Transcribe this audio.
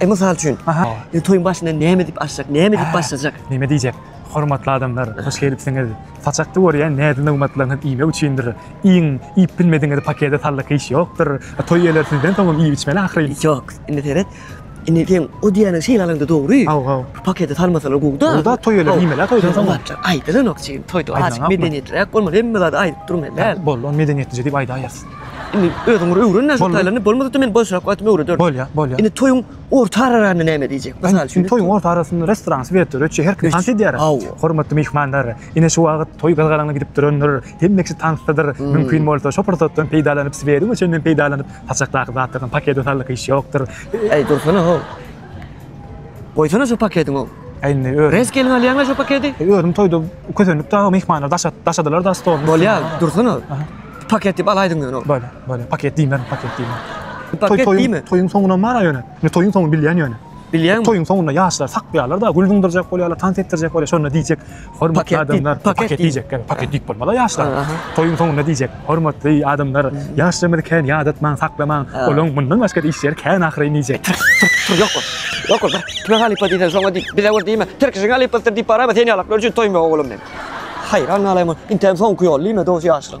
E, mysal üçin, e, toýuň başynda näme diýip açjak, näme diýip başlajak? Näme diýjek? Hormatly adamlar, hoş gelipsiňiz. Saçakda görýän näzli nygmatlaryňyz iýmek üçindir. Iýiň, iýip bilmediňizi pakete sallyk hiç ýokdur. E, toý eýeleri sizden soňam iýip-içmeli ahyryn. Ýok, indi seret, indi seň o diýýäniň şeýlalaňda dogry. Haw, haw. Pakete salmasalar gowy-da. Gowy-da, toý eýeleri iýmeli-ä toýdan soň. Aýdylanok, jigim, toýda azajyk medeniýetliräk bolmaly, hemme zady aýdyp durmaly däl. Boldy, ony medeniýetlije diýip aýdaýarys. Indi özüňür öwren-le şu taýlaryny, bolmasa-da men boşrak wagtym öwrederin. Bolýar, bolýar. Indi toýuň orta ararany näme diýjek? Mysal üçin. Toýuň orta arasynda restoran swet dur, öçe her kim tans edýär. Hawa. Hormatly myhmanlar, ine şu wagt toý gyzgalaňly gidip durandyr, hemme kişi tansdadyr. Mümkin bolsa, şu pursatdan peýdalanyp, swediň öçünden peýdalanyp, saçakdaky zatlaryny pakede saldyk iş ýokdur. Äý, dursana-how! Goýsana şu pakediň ow. He indi özüm. Res gelin alýaňa şu pakedi. He özüm toýda kösendik da myhmanlar daşat daşadylar da stol. Bolýa dursana. Paket diýip alaýdyň ýöne ow. Bolýa bolýa paket diýmän paket diýmän. Paket diýme. Toýuň soňuna bar ýöne. Ne toýuň soňuny bilýän ýöne. Bilýän. Toýuň soňunda ýaşlar sakýarlar da gül zyňdyrjak bolýarlar tans etdirjek bolýar şonda diýjek. Hormatly adamlar, paket diýjek, gel, paket diýip bolmaz-a ýaşlar. Toýuň soňunda diýjek, hormatly adamlar, ýaşlarymyzy kän ýadatmaň, saklamaň, olaň mundan başga-da iş ýeri kän ahyryn diýjek. Tur, tur, tur, ýok bol, ýok bol, bir tüpeň halypa diýseň, şoňa diý, bize bir diýme, tirkişiň halypasydyr diýip barama, sen ýalaklar üçin toýum ýok, ogulym meň. Haýran galaýma ol, inteň soňky ýol diýme, dos ýaşlar.